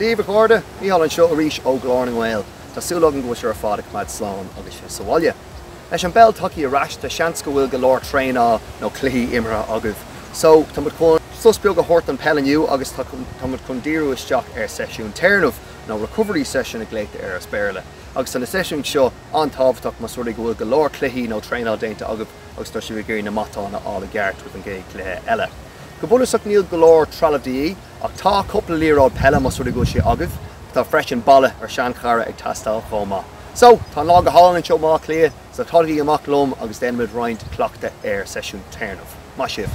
Daoibh, a chairde! Mícheál anseo arís ó Ghlór na nGael. Tá súil agam go bhfuil sibh ar fad ag coimeád slán agus sibh sa bhaile. Leis an bpeil tagthaí ar ais, tá seans go bhfuil go leor traenáil nó cluichí imeartha agaibh. So, tá muid chun sos beag a thabhairt don peil inniu agus tá tá muid chun díriú isteach ar sheisiún téarnaimh nó recovery session a glaotar air as Béarla. Agus tá na seisiúin seo an-tábhachtach más rud é go bhfuil go leor cluichí nó traenáil déanta agaibh agus tá sibh ag iarraidh na matáin a fháil i gceart roimh an gcéad chluiche eile. Go bunúsach níl go leor trealaimh de dhíth ach tá cúpla liathróid peile más rud é go bhfuil sé agaibh. Tá freisin balla ar seanchara ag teastáil chomh maith. So, tá an lá go hálainn anseo i mBaile Átha Cliath, so tagaigí amach liom agus déanfaimid roinnt cleachtadh ar seisiún téarnaimh. Maith sibh!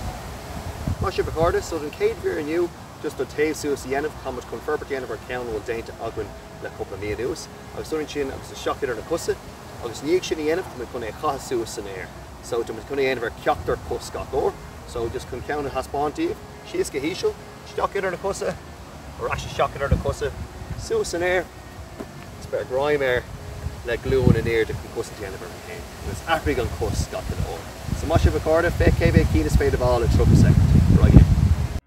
Maith sibh a chairde, so don chéad mhír inniu just an taobh suas a dhéanamh, táimid chun forbairt a dhéanamh ar cheann a bhfuil déanta againn le cúpla mí anuas. Agus uaidh sin agus isteach idir na cosa. Agus i ndiaidh sin a dhéanamh, tá muid chun é a chaitheamh suas san aer. So, tá muid chun é a dhéanamh ar ceachtar cos gach uair. So, just chun ceann a thaispeáint daoibh, síos go híseal, isteach idir na cosa, ar ais isteach idir na cosa, suas san aer, agus beir greim air le glúin in airde chun cosaint a dhéanamh ort fhéin. Agus athraigh an chos gach uile uair. So, maith sibh a chairde, féach cé mhéad cinn is féidir a fháil in 30 soicind. Ar aghaidh linn.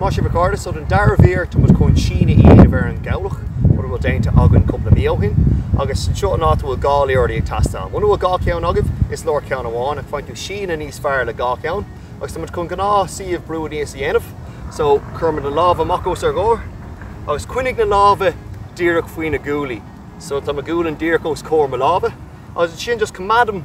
Maith sibh a chairde. So don dara mír tá muid chun síneadh a dhéanamh ar an gcabhlach, rud a bhfuil déanta againn cúpla mí ó shin. Agus anseo in áit a bhfuil dhá liathróid ag teastáil, muna bhfuil dhá cheann agaibh, is leor ceann amháin, ach faigheann tú síneadh níos fearr le dhá cheann. Agus tá muid chun gnáth suíomh brú aníos a dhéanamh. So cuireann muid na lámha amach os ár gcomhair agus coinnigh na lámha díreach faoi na guaillí. So tá mo ghualainn díreach os comhair mo lámha. Agus ansin just coimeádaim.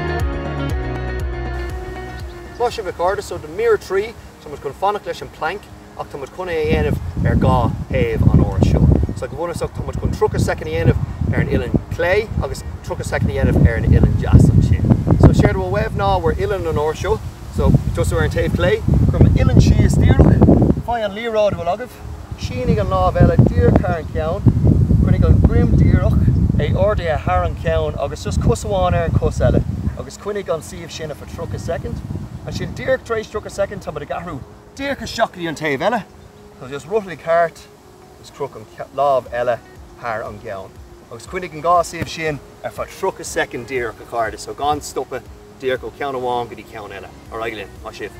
Maith sibh a chairde so do mír a trí, tá muid chun fanacht leis an bplanc ach tá muid chun é a dhéanamh ar dhá thaobh an uair seo. So go bunúsach tá muid chun 30 soicind a dhéanamh ar an uillinn chlé agus 30 soicind a dhéanamh ar an uillinn deas ansin. So séard a bhfuil uaibh ná bhur uillinn an uair seo, so tosú ar an taobh chlé, cuir m'uillinn síos díreach, faigh an liathróid a bhfuil agaibh, Sínigh an lámh eile díreach thar an cheann, coinnigh an droim díreach, é ardaithe thar an cheann agus just cos amháin ar an chos eile agus coinnigh an suíomh sin ar feadh 30 soicind, ansin díreach tar éis 30 soicind tá muid ag athrú díreach isteach go dtí an taobh eile, so just rothlaigh thart agus croch an lámh eile thar an gceann agus coinnigh an dhá suíomh sin ar feadh 30 soicind díreach, a chairde, so gan stopadh, díreach ó cheann amháin go dtí ceann eile. Ar aghaidh linn. Maith sibh.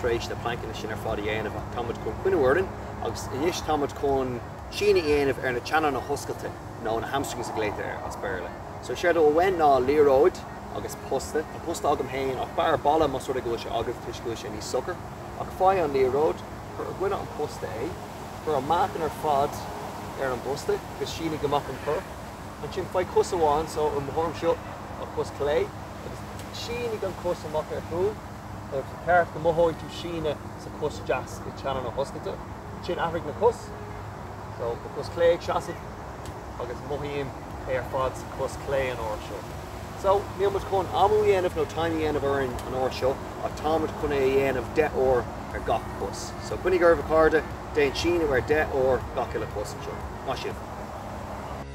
tar éis na pleainceanna sin ar fad a dhéanamh ach tá muid chun coinniú orainn agus anois tá muid chun síneadh a dhéanamh ar na teannáin na hioscaide nó na hamstrings a ghlaotar air as Béarla. So séard atá uainn ná liathróid agus posta, tá posta agam féin ach b'fhearr balla más rud é go bhfuil sé agaibh toisc go bhfuil sé níos socair, ach faigh an liathróid, cuir i gcoinne an posta é, cuir an meáchan ar fad ar an bposta agus sínigh amach an cor, ansin faigh cos amháin, so i mo thuairim seo, an chos chlé agus sínigh an chos amach ar chúl. Is ceart go mothóidh tú síneadh sa chos deas i teannán na hioscaide. Ansin athraigh na cosa. So, mo chos chlé ag seasamh agus mothaím é ar fad sa chos chlé an uair seo. So, níl muid chun amú a dhéanamh nó time a dhéanamh orainn an uair seo ach tá muid chun é a dhéanamh 10 uair ar gach cos. So, coinnigh oraibh a chairde, déan síneadh ar 10 uair gach uile chos anseo. Maith sibh!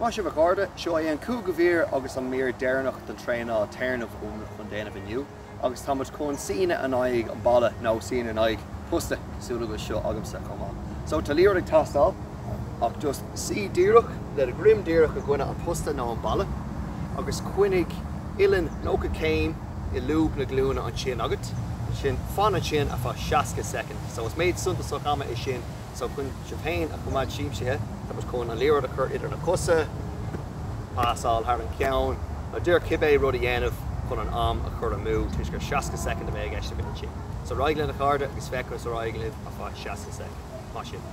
Maith sibh a chairde, seo é an cúigiú mhír agus an mír deireanach den traenáil téarnaimh a bhfuilimid chun déanamh inniu agus táimid chun suí in aghaidh an bhalla nó suí in aghaidh posta cosúil leis seo agamsa chomh maith. So tá liathróid ag teastáil ach just suí díreach le do dhroim díreach i gcoinne an posta nó an balla agus coinnigh uillinn 90 céim i lúb na glúine ansin agat, ansin fan ansin ar feadh 60 soicind. So is méid suntasach ama é sin So chun sibh féin a choimeád siamsaithe tá muid chun an liathróid a chur idir na cosa, pasáil thar an gceann, nó dear cibé rud a dhéanamh chun an am a chur umainn, toisc gur 60 soicind a bheidh i gceist agat ansin. So ar aghaidh linn a chairde agus féach ar aghaidh libh ar feadh 60 soicind. Maith sibh!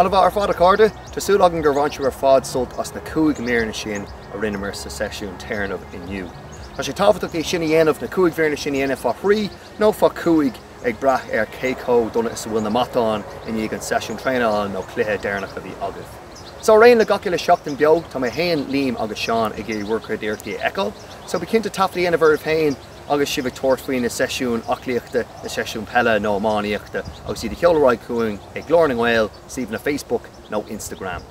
Ana-mhaith ar fad a chairde! Tá súil agam gur bhain sibh ar fad sult as na cúig míreanna sin a rinneamar sa seisiún téarnaimh inniu. Tá sé tábhachtach é sin a dhéanamh, na cúig mhíreanna sin a dhéanamh fá thrí nó fá chúig ag brath ar cé chomh dona is a bhfuil na matáin i ndiaidh an seisiún traenála nó cluiche deireanach a bhí agaibh. So, ar aon dul le gach uile seachtain beo, tá mé féin, Liam agus Seán ag iarraidh bhur gcuid iarrachtaí a fheiceáil. So, bí cinnte taifead a dhéanamh oraibh féin agus sibh ag tabhairt faoi na seisiúin aclaíochta, na seisiúin peile nó iománaíochta agus iad a sheoladh ar aghaidh chugainn ag Gaeil na nGael, suíomhanna Facebook nó Instagram.